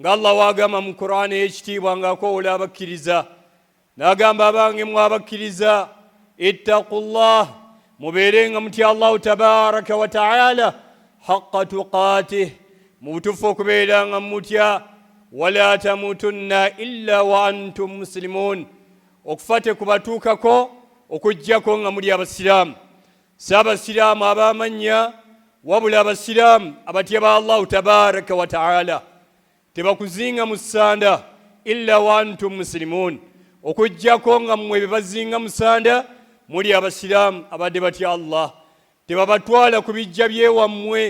nga allah wagamba mu qurani eyekitiibwa nga akowoola abakkiriza nagamba abange mwe abakkiriza ittaku llah mubeere nga mutya allahu tabaraka wataala haqa tuqatih mu butuufu okubeera nga mutya wala tamutunna illa wa antum musilimun okufa tekubatuukako okugjako nga muli abasiraamu si abasiraamu ab'amannya wabula abasiraamu abatya ba allahu tabaraka wataala tebakuzinga mu ssanda illa wantum musilimuun okujjako nga mmwe bebazinga musanda muli abasiraamu abadde batya allah tebabatwala ku bijja byewammwe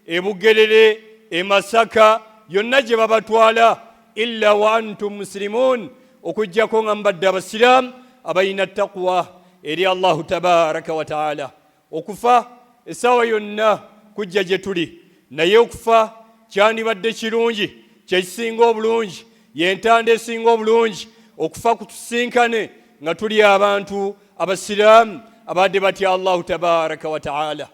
ebugerere emasaka yonna gye babatwala illa wa antum musilimun okujjako nga mubadde abasiraamu abalina taqwa eri allahu tabaraka wataala okufa essaawa yonna kujja gye tuli naye okufa kyandibadde kirungi kyekisinga obulungi yentanda esinga obulungi okufa kutusinkane nga tuli abantu abasiraamu abadde batya allahu tabaraka wataala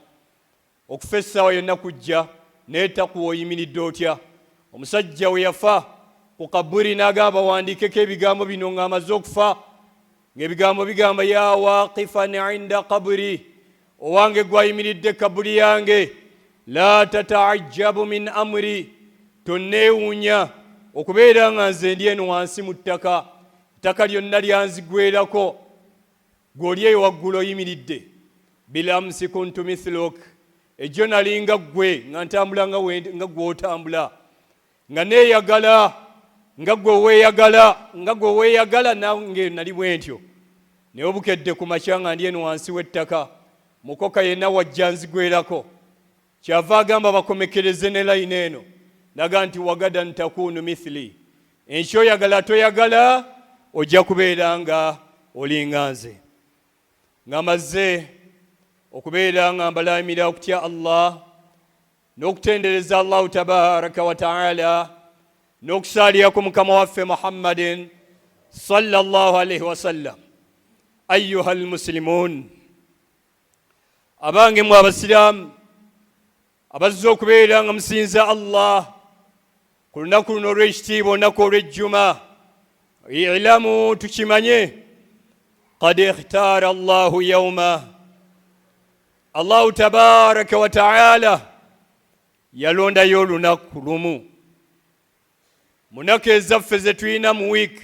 Okufa essaawa yonna kujja, naye takuwa oyimiridde otya. Omusajja we yafa ku kaburi n'agamba bawandiikeko ebigambo bino ng'amaze okufa, ng'ebigambo bigamba ya waaqifan inda kaburi, owange gwayimiridde kaburi yange, la tataajjabu min amri, tonneewuunya okubeera nga nze ndi eno wansi mu ttaka, ettaka lyonna lyanzigwerako. Gwe oli eyo waggulu oyimiridde. Bilamsi kuntu mithluk, ejjo nali nga ggwe nga ntambula nga gwe otambula, nga neeyagala nga gwe weeyagala nga gwe weeyagala, nange nali bwentyo. Naye obukedde ku makya nga ndi eno wansi w'ettaka, mukoka yenna wajja nzigwerako. Kyava agamba bakomekereze ne layini eno naga nti wagadan takunu mithili, enkya oyagala toyagala ojja kubeera nga olinga nze nga mazze okubeera nga mbalaamira okutya Allah n'okutendereza Allahu tabaraka wa taala n'okusaalirako mukama waffe Muhammadin sallallahu alaihi wasallam ayuha almuslimun abange mwe abasiraamu abazze okubeera nga musinza allah ku lunaku luno olw'ekitiibwa olunaku olw'ejjuma ilamu tukimanye qad ikhtaara allahu yauma allahu tabaraka wataala yalondayo olunaku lumu munaku ezaffe zetulina mu wiiki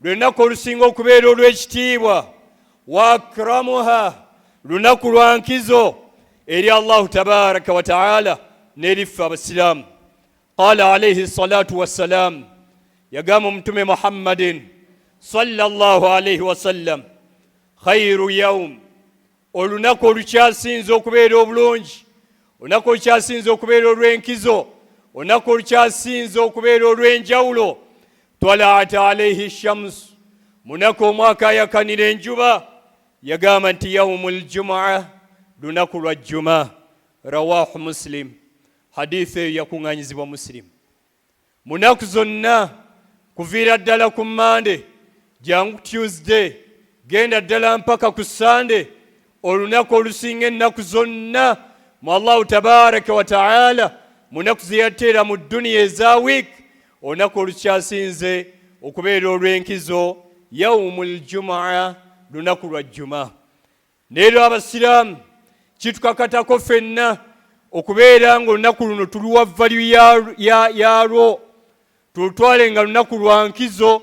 lwenaku olusinga okubeera olw'ekitiibwa waakramuha lunaku lwa nkizo eri allahu tabaraka wataala neriffe abasiraamu qala alaihi salatu wassalaamu yagamba omutume muhammadin sallallahu alaihi wasallam khairu yaum olunaku olukyasinze okubeera obulungi olunaku olukyasinze okubeera olw'enkizo olunaku olukyasinze okubeera olw'enjawulo twalaat alaihi shams munaku omwaka ayakanira enjuba yagamba nti yaumu ljumaa lunaku lwa jjuma rawahu muslim haditha eyo yakuŋŋanyizibwa musilimu mu nnaku zonna kuviira ddala ku mande jangu tuesday genda ddala mpaka ku sande olunaku olusinga ennaku zonna mu allahu tabaraka wataala munaku zeyateera mu duniya eza wiik olunaku olukyasinze okubeera olw'enkizo yaumu ljumaa lunaku lwa jjuma neero abasiraamu kitukakatako fenna okubeera nga olunaku luno tuluwa valyu yalwo tulutwale nga lunaku lwa nkizo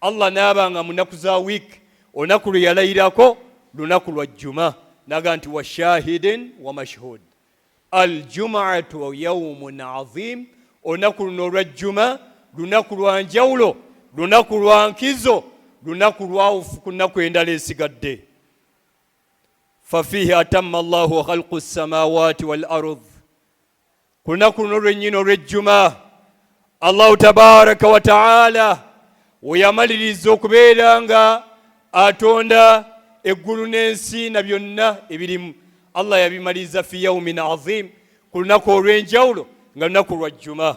allah naaba nga munaku za wiik olunaku lwe yalayirako lunaku lwa jjuma naga nti washahidin wamashhud aljumaatu yaumun azim olunaku luno olwa jjuma lunaku lwa njawulo lunaku lwa nkizo lunaku lwawufu ku nnaku endala esigadde fafiihi atamma allahu khalqu ssamawati wal ard ku lunaku luno lwennyini olw'ejjuma allahu tabaraka wa taala weyamaliriza okubeera nga atonda eggulu n'ensi na byonna ebirimu allah yabimaliriza fi yaumin azim ku lunaku olw'enjawulo nga lunaku lwa jjuma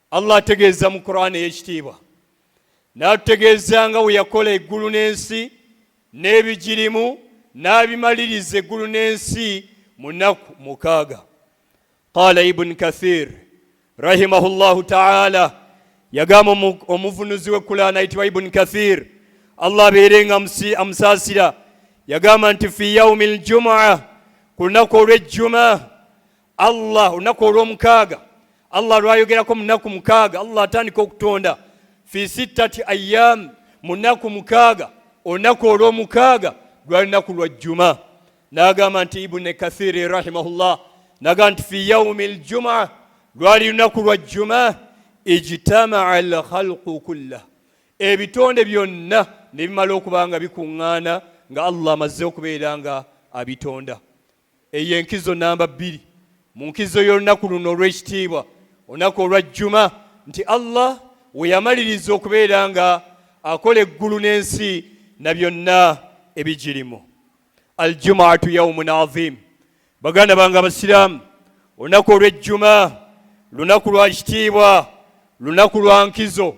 allah ategeeza mu kurani ey'ekitiibwa n'atutegeeza nga bwe yakola eggulu n'ensi n'ebigirimu n'abimaliriza eggulu n'ensi mu nnaku mukaaga qaala ibuni kathir rahimahu llahu taala yagamba omuvunuzi w'ekkulaana ayitibwa ibuni kathir allah abeere nga amusaasira yagamba nti fi yaumi ljumua ku lunaku olw'ejjuma allah olunaku olwomukaaga allah lwayogerako munaku mukaaga allah atandika okutonda fi sittati ayam munaku mukaaga olunaku olwomukaaga lwali lunaku lwa jjuma nagamba nti ibuni kathiri rahimahullah nagamba nti fi yaumi ljuma lwali lunaku lwa jjuma ijtamaa lkhalqu kullah ebitonde byonna nebimala okuba nga bikuŋŋaana nga allah amazze okubeera nga abitonda Eyo enkizo namba bbiri mu nkizo y'olunaku luno olw'ekitiibwa, olunaku olwa Jjuma, nti Allah we yamaliriza okubeera nga akola eggulu n'ensi na byonna ebigirimu. Aljumaatu yaumun adhim, baganda bange Abasiraamu, olunaku olw'ejjuma lunaku lwa kitiibwa, lunaku lwa nkizo.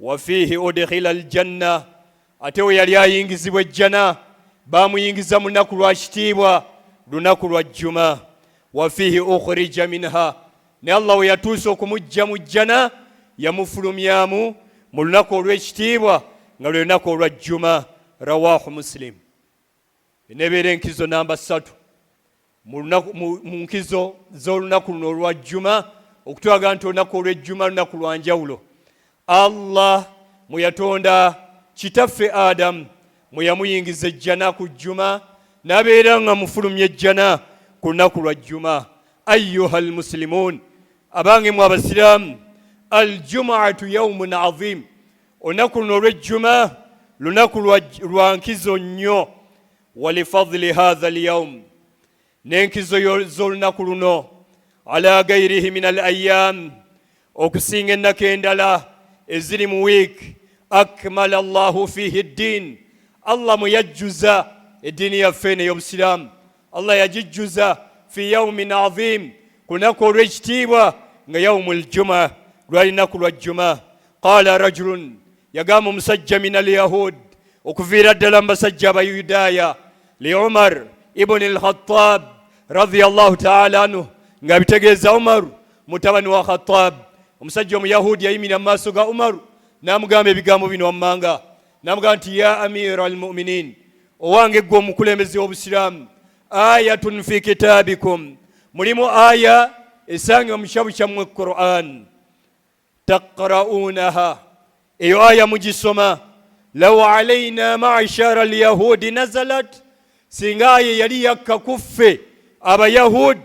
wafiihi udkhila aljanna ate we yali ayingizibwa ejjana baamuyingiza mu lunaku lwa kitiibwa lunaku lwa jjuma wafiihi ukhrija minha ne allah we yatuusa okumujja mu jjana yamufulumyamu mu lunaku olw'ekitiibwa nga lwe lunaku olwa jjuma rawahu musilimu Enebeera enkizo namba ssatu mu nkizo z'olunaku luno olwa jjuma okutwaga nti olunaku olw'ejjuma lunaku lwa njawulo allah mwe yatonda kitaffe adamu mwe yamuyingiza ejjana ku jjuma nabeera nga mufulumya ejjana ku lunaku lwa jjuma ayuha almusilimun abange mu abasiraamu aljumuatu yaumun azimu olunaku luno olwejjuma lunaku lwa nkizo nnyo walifadli hatha alyaum n'enkizo z'olunaku luno ala gairihi min al ayam okusinga ennaku endala eziri mu wiik akmala llahu fihi ddin allah mwe yajjuza eddiini yaffe eno ey'obusiraamu allah yagijjuza fi yaumin aziim ku lunaku olw'ekitiibwa nga yaumu ljuma lwali naku lwa jjuma qaala rajulun yagamba omusajja min alyahud okuviira ddala mu basajja abayudaaya li umar ibuni lkhatab radiallahu taala anhu nga bitegeeza umaru mutabani wa khatab omusajja omuyahudi yayimira mu maaso ga umaru n'amugamba ebigambo bino wammanga n'amugamba nti ya amira almuminin owange ggwe omukulembeze w'obusiraamu ayatun fi kitaabikum mulimu aya esangibwa mu kitabu kyammwe quran taqra'unaha eyo aya mugisoma law alaina ma'shara alyahudi nazalat singa aye yali yakka kuffe abayahud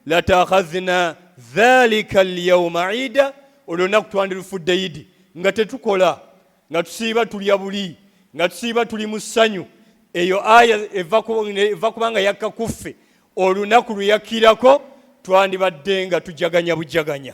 latakhadhna dhalika alyawma ida olunaku twandirufudde idi nga tetukola nga tusiiba tulya buli nga tusiiba tuli mu ssanyu eyo aya eva kubanga yakka kuffe olunaku lwe yakkirako twandibadde nga tujaganya bujaganya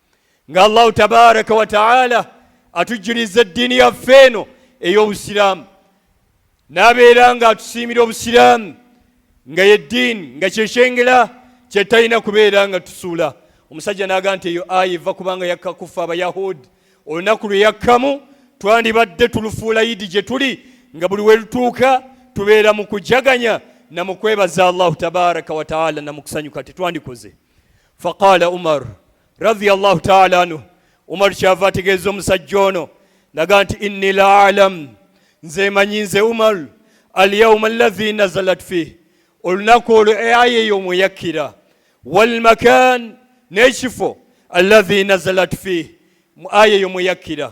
nga allahu tabaraka wataala atujjuliza eddiini yaffe eno ey'obusiraamu n'abeera nga atusiimira obusiraamu nga yeddiini nga kyekyengera kyetalina kubeera nga tusuula omusajja n'aga nti eyo aya eva kubanga yakka kuffe abayahudi olunaku lwe yakkamu twandibadde tulufuula idi gye tuli nga buli we lutuuka tubeera mu kujaganya na mu kwebaza allahu tabaraka wataala na mu kusanyuka tetwandikoze faqala umar radiyallahu taala anhu umar kyava ategeeza omusajja ono naga nti inni la alamu nze manyi nze umar alyauma allahi nazalat fih olunaku olwo aya eyo mweyakkira walmakan n'ekifo allahi nazalat fih mu aya eyo mweyakkira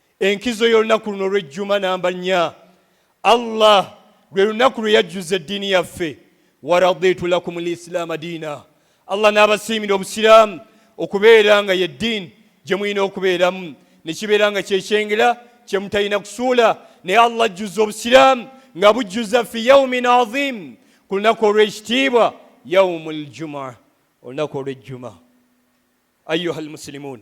Enkizo y'olunaku luno olw'ejjuma namba nnya, Allah lwe lunaku lwe yajjuza eddiini yaffe, waraditu lakum lislaama diina, Allah n'abasiimira obusiraamu okubeera nga ye ddiini gye mulina okubeeramu ne kibeera nga kyekyengera kye mutalina kusuula naye allah ajjuza obusiraamu nga bujjuza fi yaumin azim ku lunaku olw'ekitiibwa yaumu ljumaa olunaku olw'ejjuma ayuha lmusilimuun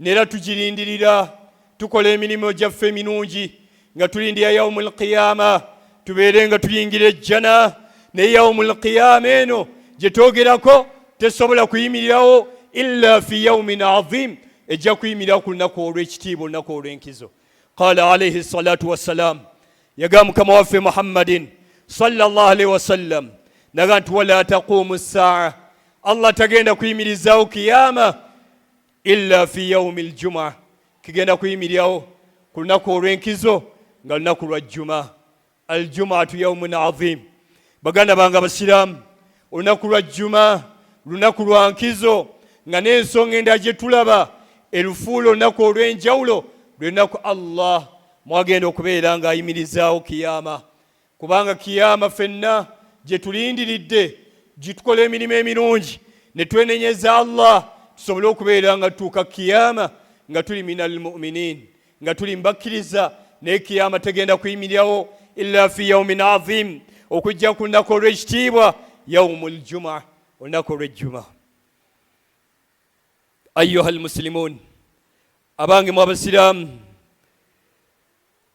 nera tugirindirira tukola emirimu gyaffe eminungi nga tulindira yaumu lqiyama tubeere nga tuyingira ejjana naye yaumu lqiyama eno gyetwogerako tesobola kuyimirirawo illa fi yaumin azim ejja kuyimirira ku lunaku olw'ekitiibwa olunaku olw'enkizo qala alaihi salatu wassalam yagamba mukama waffe muhammadin sallallahu alaihi wasallam naga nti wala taqumu saa allah tagenda kuyimirizawo kiyama illa fi yaumi ljuma kigenda kuyimiryawo ku lunaku olw'enkizo nga lunaku lwa jjuma aljumaatu yaumun adhim baganda bange abasiraamu olunaku lwa jjuma lunaku lwa nkizo nga n'ensonga endala gye tulaba erufuula olunaku olw'enjawulo lwe lunaku allah mwagenda okubeera ng'ayimirizaawo kiyama kubanga kiyama fenna gye tulindiridde gitukola emirimu emirungi ne twenenyeza allah tusobole okubeera nga tutuuka kiyama nga tuli min almuminin nga tuli mbakkiriza naye kiyama tegenda kuyimirirawo illa fi yaumin azim okujja ku lunaku olw'ekitiibwa yaumu ljuma olunaku olw'ejjuma ayuha almusilimun abange mu abasiraamu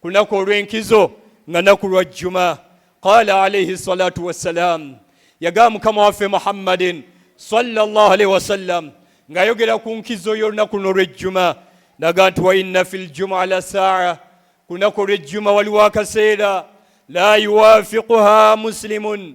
ku lunaku olw'enkizo nga naku lwa jjuma qala alaihi salatu wassalam yagamba mukama waffe muhammadin salllah alaihi wasallam ng'ayogera ku nkizo y'olunaku luno olw'ejjuma naga nti wainna fi ljuma la saa ku lunaku olw'ejjuma waliwo akaseera la yuwafiquha muslimun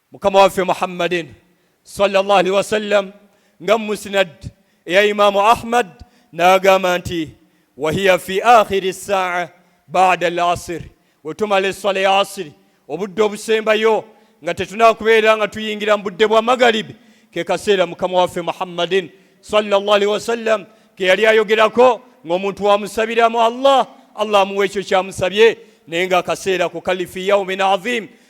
mukama waffe muhammadin sallallahu alaihi wasallam nga musnad eya imaamu ahmad n'agamba nti wahiya fi akhiri saa bada al asir wetumala esswala ya asiri obudde obusembayo nga tetunakubeera nga tuyingira mu budde bwa magaribi ke kaseera mukama waffe muhammadin sallallahu alaihi wasallam ke yali ayogerako ng'omuntu wamusabiramu allah allah amuwa ekyo kyamusabye naye nga akaseera ku kalifi yaumin azim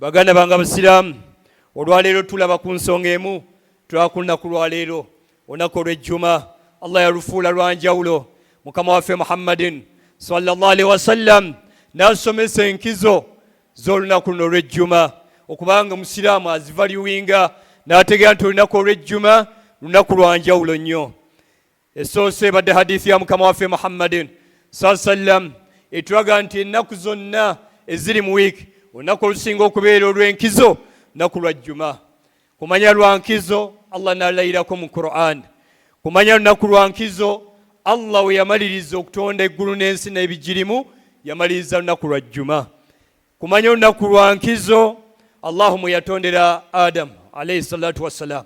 baganda bange abasiraamu olwaleero tulaba ku nsonga emu tulakunaku lwaleero olunaku olwejjuma allah yalufuula lwanjawulo mukama waffe muhammadin sallallahu alaihi wasallam nasomesa enkizo z'olunaku luno olwejjuma okubanga omusiraamu azivalyuwinga n'ategeera nti olunaku olwejjuma lunaku lwanjawulo nnyo Essoose ebadde hadithi ya mukama waffe Muhammadin saa sallam etulaga nti ennaku zonna eziri mu wiiki olunaku olusinga okubeera olw'enkizo naku lwa jjuma kumanya lwa nkizo allah nalayirako mu quran kumanya lunaku lwa nkizo allah we yamaliriza okutonda eggulu n'ensi n'ebigirimu yamaliriza lunaku lwa jjuma kumanya olunaku lwa nkizo allahu mwe yatondera adamu alaihi salatu wassalam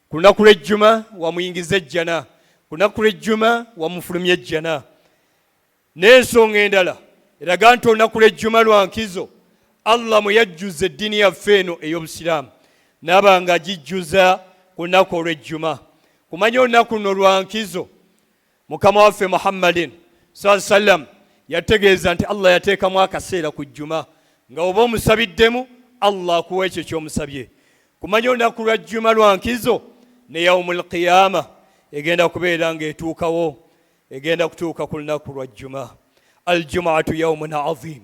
ku lunaku lw'ejjuma wamuyingiza ejjana ku lunaku lw'ejjuma wamufulumya ejjana n'ensonga endala eraga nti olunaku lw'ejjuma lwa nkizo allah mwe yajjuza eddiini yaffe eno ey'obusiraamu naaba nga agijjuza ku lunaku olw'ejjuma kumanya olunaku luno lwa nkizo mukama waffe muhammadin saa sallam yategeeza nti allah yateekamu akaseera ku jjuma nga oba omusabiddemu allah akuwa ekyo kyomusabye kumanya olunaku lwa jjuma lwa nkizo ne yaumu lqiyama egenda kubeera ngaetuukawo egenda kutuuka ku lunaku lwa jjuma aljumaatu yaumun azim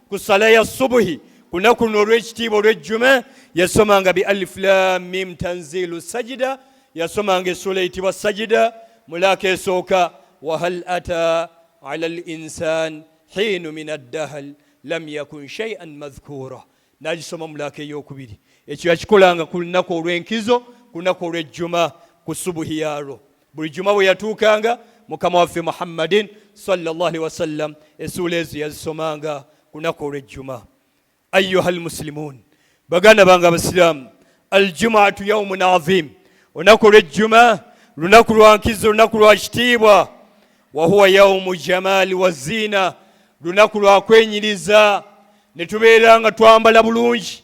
ku sala ya subuhi ku lunaku luno olw'ekitiibwa olw'ejjuma yasomanga bi alif lam mim tanzilu sajida yasomanga essuula eyitibwa sajida mulaaka esooka wahal ata ala al insan hiinu min addahal lam yakun shaian madhkuura nagisoma mulaaka ey'okubiri ekyo yakikolanga ku lunaku olw'enkizo ku lunaku olw'ejjuma ku subuhi yaalwo buli juma bwe yatuukanga mukama waffe muhammadin salllah alihi wasallam esuula ezo yazisomanga kunaku olwejjuma ayuha almusilimun baganda bange abasiraamu aljumaatu yaumun azim olunaku olwejjuma lunaku lwa nkizo lunaku lwa kitiibwa wahuwa yaumu jamaali wa ziina lunaku lwa kwenyiriza ne tubeera nga twambala bulungi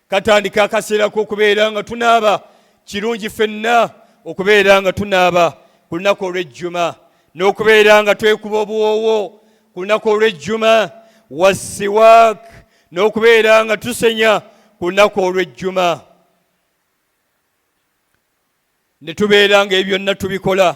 katandika akaseera k'okubeera nga tunaaba kirungi fenna okubeera nga tunaaba ku lunaku olw'ejjuma n'okubeera nga twekuba obuwoowo ku lunaku olw'ejjuma wasiwaak n'okubeera nga tusenya ku lunaku olw'ejjuma ne tubeera nga ebyonna tubikola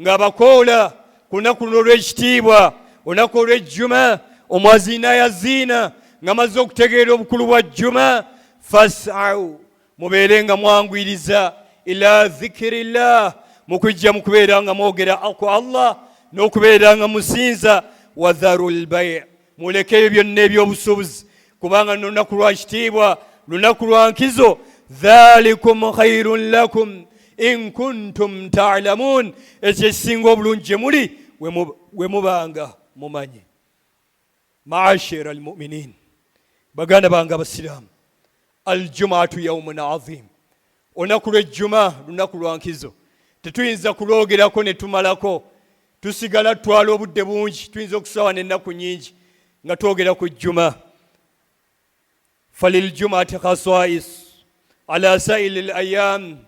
nga bakoola ku lunaku luno olw'ekitiibwa olunaku olw'ejjuma omwaziina yaziina nga mazze okutegeera obukulu bwa jjuma fasau mubeere nga mwanguyiriza ila zikirillah mu kujja mu kubeera nga mwogera ku allah n'okubeera nga musinza wadharu lbai mulekeyo byonna ebyobusuubuzi kubanga no lunaku lwa kitiibwa lunaku lwa nkizo dhalikum khairun lakum in kuntum talamun ekyo ekisinga obulungi gye muli we mubanga mumanyi maashira almuminin baganda bange abasiraamu aljumaatu yaumun azimu olunaku lw'ejjuma lunaku lwa nkizo tetuyinza kulwogerako ne tumalako tusigala tutwala obudde bungi tuyinza okusaawa n'ennaku nyingi nga twogera ku jjuma faliljumati khaswais ala saili l ayam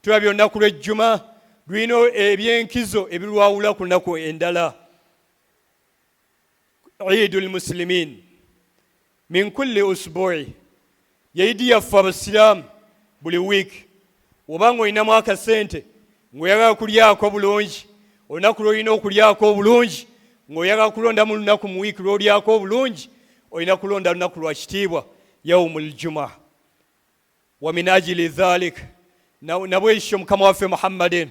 tulabye olunaku lw'ejjuma lulina ebyenkizo ebirwawula ku nnaku endala idu lmusilimin min kulli usbu'i yeidi yaffe abasiraamu buli wiiki oba nga olinamu akasente ngaoyagala kulyako bulungi olunaku lwolina okulyako obulungi ngaoyagala kulondamu lunaku mu wiiki lwolyako obulungi olina kulonda lunaku lwa kitiibwa yaumu ljuma wa min ajili dhalik nabwekityo mukama waffe muhammadin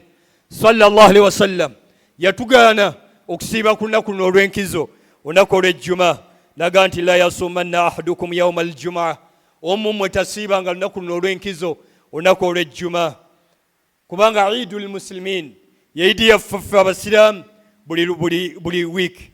sallallahu alaihi wasallam yatugaana okusiiba ku lunaku luno olw'enkizo olunaku olw'ejjuma naga nti la yasumanna ahadukum yauma aljumaa omu mmwe tasiibanga lunaku luno olw'enkizo olunaku olw'ejjuma kubanga idu lmusilimin yeidi yaffaffe abasiraamu buli, buli, buli wiiki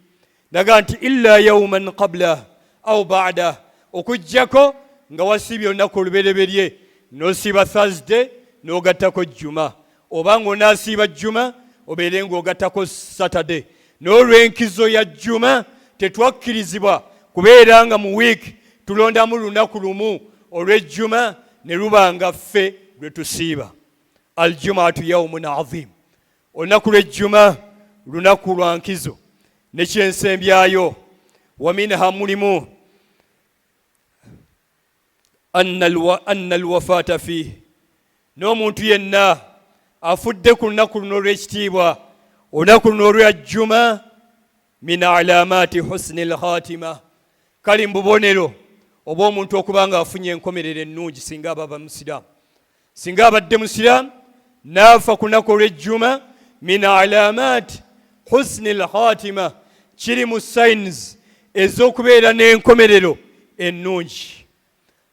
naga nti illa yauman qablah au badah okujjako nga wasiibye olunaku olubereberye nosiiba thursday n'ogattako jjuma oba ng'onaasiiba jjuma obeere ng'ogattako saturday n'olw'enkizo ya jjuma tetwakkirizibwa kubeera nga mu wiiki tulondamu lunaku lumu olw'ejjuma ne luba nga ffe lwe tusiiba aljumaatu yaumun azimu olunaku lwejjuma lunaku lwa nkizo nekyensembyayo waminha mulimu anna alwafaata fiihi n'omuntu yenna afudde ku lunaku luno olw'ekitiibwa olunaku luno olwajjuma min alamati husni lkhatima kali mu bubonero oba omuntu okuba nga afunye enkomerero ennungi singa ababa musiraamu singa abadde musiraamu naafa kunaku olwejjuma min alamati husni lkhatima kiri mu signs ez'okubeera n'enkomerero ennungi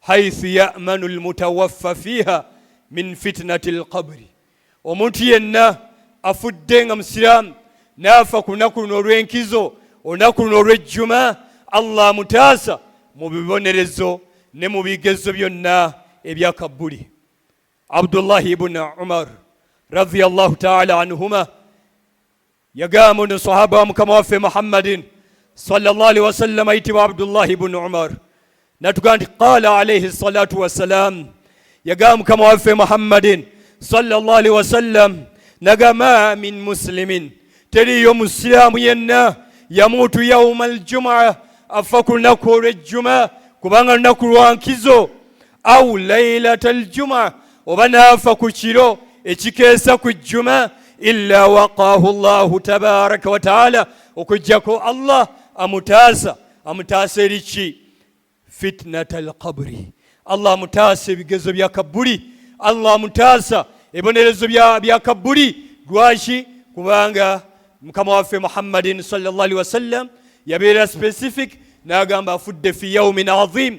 haithu yamanu lmutawaffa fiiha min fitinati lqabri omuntu yenna afudde nga musiraamu naafa ku lunaku luno olw'enkizo olunaku luno olw'ejjuma allah amutaasa mu bibonerezo ne mu bigezo byonna ebya kabbuli abdullahi ibuni umar radiallahu taala anhuma Yagamba ono sahaba wa mukama waffe Muhammadin sallallahu alaihi wasallam ayitibwa Abdullah ibn Umar natugamba nti qala alaihi salatu wassalam, yagamba mukama waffe Muhammadin sallallahu alaihi wasallam nagama min muslimin, teriyo musiramu yenna yamuutu yauma aljumaa, afa ku lunaku olwejjuma, kubanga lunaku lwankizo au lailata aljuma oba naafa ku kiro ekikeesa ku jjuma illa waqaahu llahu tabaraka wataala okujjako allah amutaasa amutaasa eri ki fitnata alqabri allah amutaasa ebigezo bya kabbuli allah amutaasa ebonerezo bya kabbuli lwaki kubanga mukama waffe muhammadin salllah alihi wasallam yabeera specific n'agamba afudde fi yaumin azim